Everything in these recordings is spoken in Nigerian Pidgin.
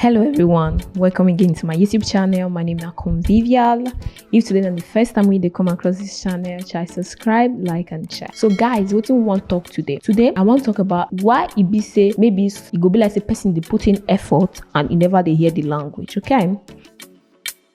Hello everyone, welcome again to my YouTube channel. My name is Convivial. If today is the first time we come across this channel, try subscribe, like and share. So guys, what do we want to talk today? Today, I want to talk about why it be say maybe it e go be like a person they put in effort and you e never they hear the language, okay?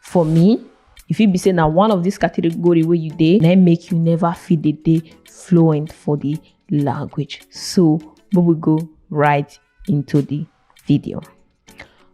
for me e fit be say na one of this category wey you dey na im make you never fit dey dey fluent for the language so make we go right into the video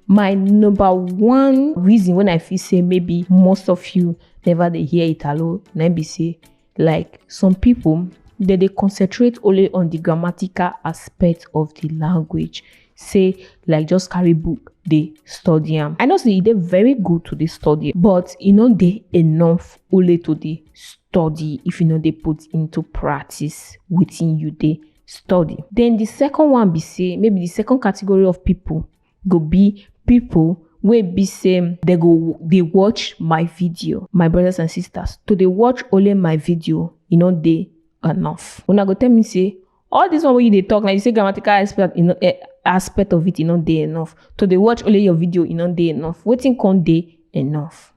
my number one reason when i feel say maybe most of you never dey hear italo na im be say like some people dem dey concentrate only on the grammatical aspect of the language say like just carry book dey study am i know say e dey very good to dey study but e no dey enough only to dey study if you no dey put into practice wetin you dey study then the second one be say maybe the second category of people go be pipo wey be say dem go dey watch my video my brothers and sisters to dey watch only my video e no dey enough una go tell me say all this one wey you dey talk na you say grammatical aspect e no eh, aspect of it e no dey enough to dey watch only your video e no dey enough wetin come dey enough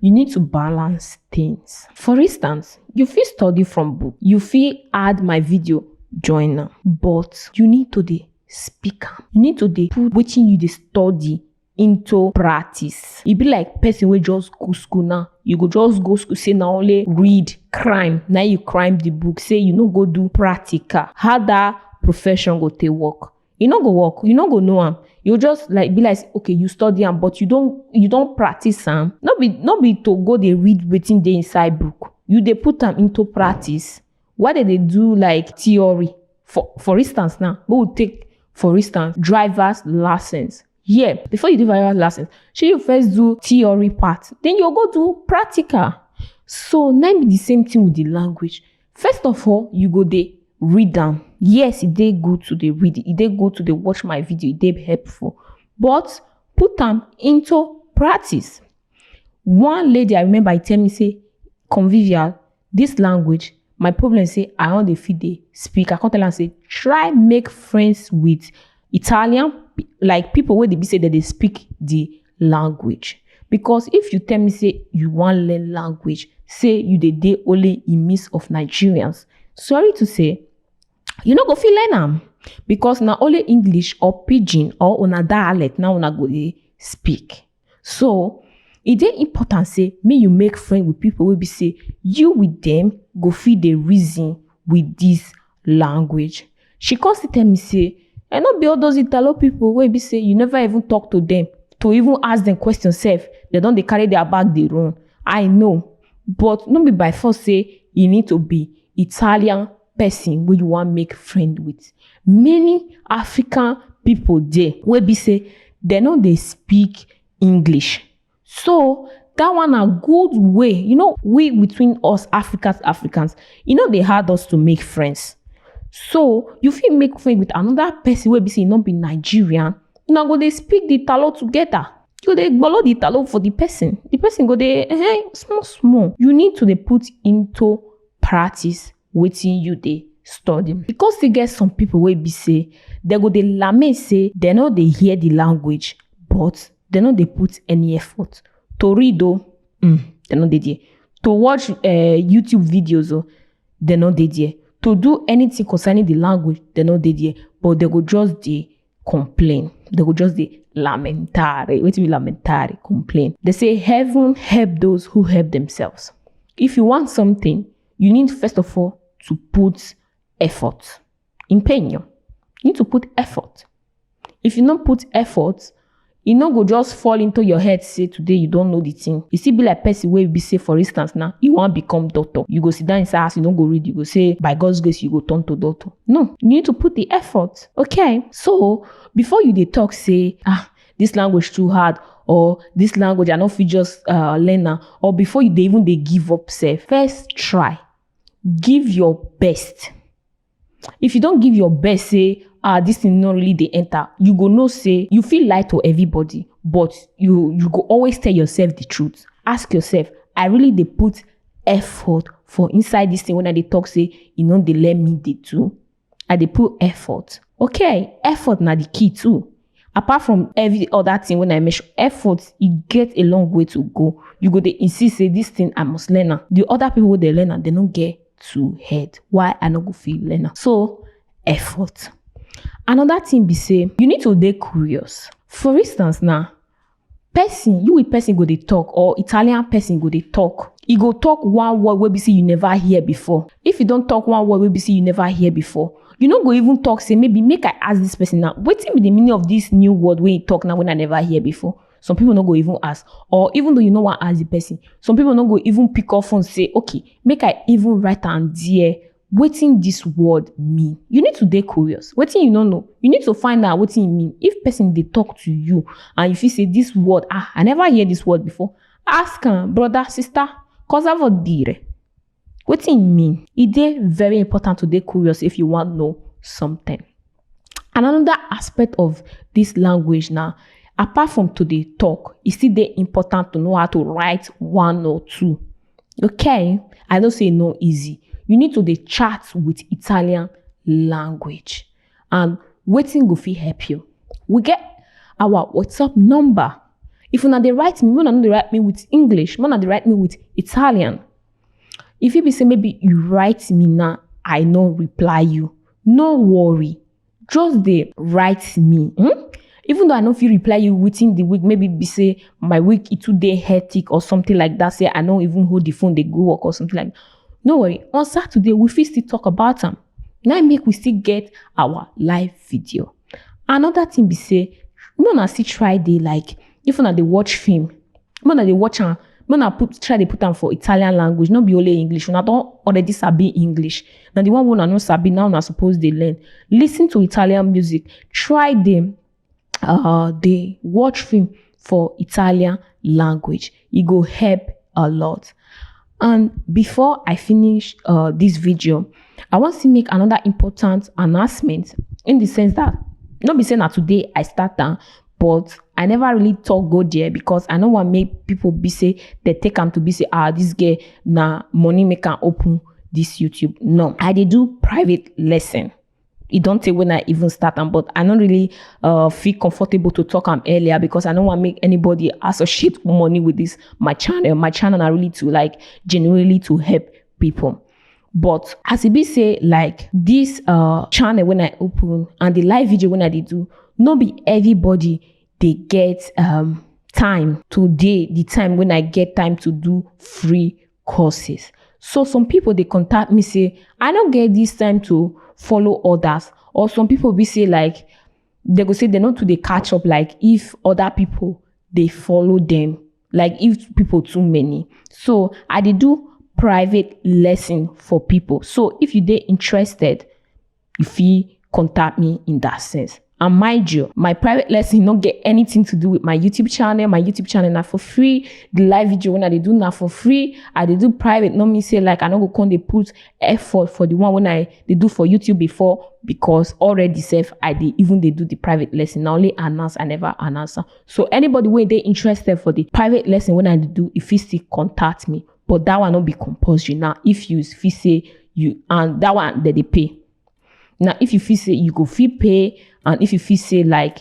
you need to balance things for instance you fit study from book you fit add my video join am but you need to dey speak am you need to dey put wetin you dey study into practice e be like person wey just go school now you go just go school say na only read crime na you crime the book say you no go do practical how that profession go take work e no go work you no go know am you just like be like say, okay you study am but you don you don practice am no be no be to go dey read wetin dey inside book you dey put am into practice Why dem dey do like theory? For for instance now, make we take for instance driver's license. Yeah, before you do driver's license, shey you first do theory part, then you go do practical. So na im be the same thing with the language. First of all, you go dey read am. Yes, e dey good to dey read, e dey good to dey watch my video, e dey helpful. But put am into practice. One lady I remember e tell me say convivial This language, my problem say I no dey fit dey speak. I come tell am say try make friends with Italian pe- like people wey dey be say dem dey speak the language. Because if you tell me say you wan learn language, say you dey dey only in midst of Nigerians, sorry to say, you no go fit learn am because na only English or pidgin or una dialect na una go dey speak. So, e dey important say make you make friend with people wey be say you with them go fit dey reason with this language. She come still tell me say and no be all those Italo people wey be say you never even talk to them to even ask them question sef, they don dey carry their bag dey run. I know but no be by force say you need to be Italian person wey you wan make friend with many african people dey wey be say dem no dey speak english so that one na good way you know we between us africans africans e no dey hard us to make friends so you fit make friend with another person wey be say e no be nigerian una go dey speak the talo together you go dey gbolo the talo for the person the person go dey eh small small you need to dey put into practice wetin you dey study. E come still get some pipu wey be sey dem go dey lament sey dem no dey hear de language but dem no dey put any effort to read oo um dem no dey there, to watch um YouTube videos oo dem no dey there, to do anything concerning de language dem no dey there but dem go just dey complain they go just dey lamentare wetin be lamentare complain they say heaven help those who help themselves if you want something you need first of all to put effort empeño you need to put effort if you no put effort E no go just fall into your head say today you don know the thing. E still be like person wey be say for instance now, you wan become doctor. You go sit down inside house, you no go read, you go say by God's grace you go turn to doctor. No, you need to put the effort. Okay, so before you dey talk say ah this language too hard or this language I no fit just uh, learn am or before you dey even dey give up sef, first try, give your best. If you don give your best say ah this thing no really dey enter, you go know say you fit lie to everybody but you you go always tell yourself the truth. Ask yourself I really dey put effort for inside this thing when I dey talk say e no dey let me dey do? I dey put effort okay effort na the key too. apart from every other thing when i mention effort e get a long way to go you go dey insist say this thing i must learn am the other people wey dey learn am they no get two head why i no go fit learn am so effort another thing be say you need to dey curious for instance now Person, you with person go dey talk or Italian person go dey talk. E go talk one word wey be say you never hear before. If e don talk one word wey be say you never hear before, you no go even talk say maybe make I ask this person now wetin be the meaning of this new word wey e talk now wey I never hear before. Some people no go even ask or even though you no wan ask the person, some people no go even pick up phone say okay make I even write am there wetin dis word mean you need to dey curious wetin you no know you need to find out wetin e mean if person dey talk to you and you feel say this word ah i never hear this word before ask am brother sister cosa vuol dire wetin e mean e dey very important to dey curious if you wan know something And another aspect of this language now, apart from to dey talk, e still dey important to know how to write one or two. Okay, I know say e no easy. You need to dey chat with Italian language and wetin go fit help you. We get our WhatsApp number. If una dey write me, make una no dey write me with English, make una dey write me with Italian. E fit be say maybe you write me now, I no reply you. No worry, just dey write me. Hmm? Even though I no fit reply you within the week, maybe be say my week it too dey hectic or something like that. Say I no even hold the phone, they go work or something like. No worry, on Saturday we fit still talk about am. Now im make we still get our live video. Another thing be say, make una still try dey like if una dey watch film, make una dey watch am make una put try dey put am for italian language no be only english una don already sabi english na the one wey una no sabi now una suppose dey learn listen to italian music try dey uh, dey watch film for italian language e go help a lot and before i finish uh, this video i wan still make another important announcement in the sense that no be say na today i start am but i never really talk go there because i no wan make people be say they take am to be say ah this girl na money make am open this youtube no i dey do private lesson e don tey when i even start am but i no really uh, feel comfortable to talk am earlier because i no wan make anybody associate money with this my channel my channel na really to like genuinely to help people but as e be say like this uh channel when i open and the live video when i dey do no be everybody dey get um time to dey the time when i get time to do free courses so some people dey contact me say i no get this time to follow others or some people be say like they go say they no too dey catch up like if other people dey follow them like if people too many so i dey do private lesson for people so if you dey interested you fit contact me in that sense and mind you my private lesson no get anything to do with my youtube channel my youtube channel na for free the live video wey i dey do na for free i dey do private no mean say like i no go come dey put effort for the one wey i dey do for youtube before because already sef i dey even dey do the private lesson na only announce i never announce am So anybody when they interested for the private lesson when I do, if you still contact me, but that one not be compulsory. Now, if you if you say you and that one that they pay. Now, if you feel say you go fee pay, and if you feel say like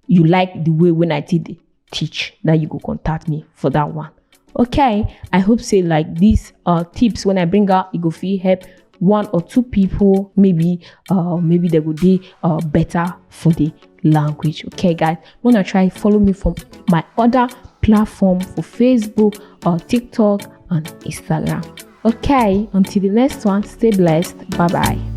you like the way when I did teach, now you go contact me for that one. okay i hope say like these uh tips when i bring out it go feel help one or two people maybe uh maybe they would be uh better for the language okay guys wanna try follow me from my other platform for facebook or tiktok and instagram okay until the next one stay blessed bye bye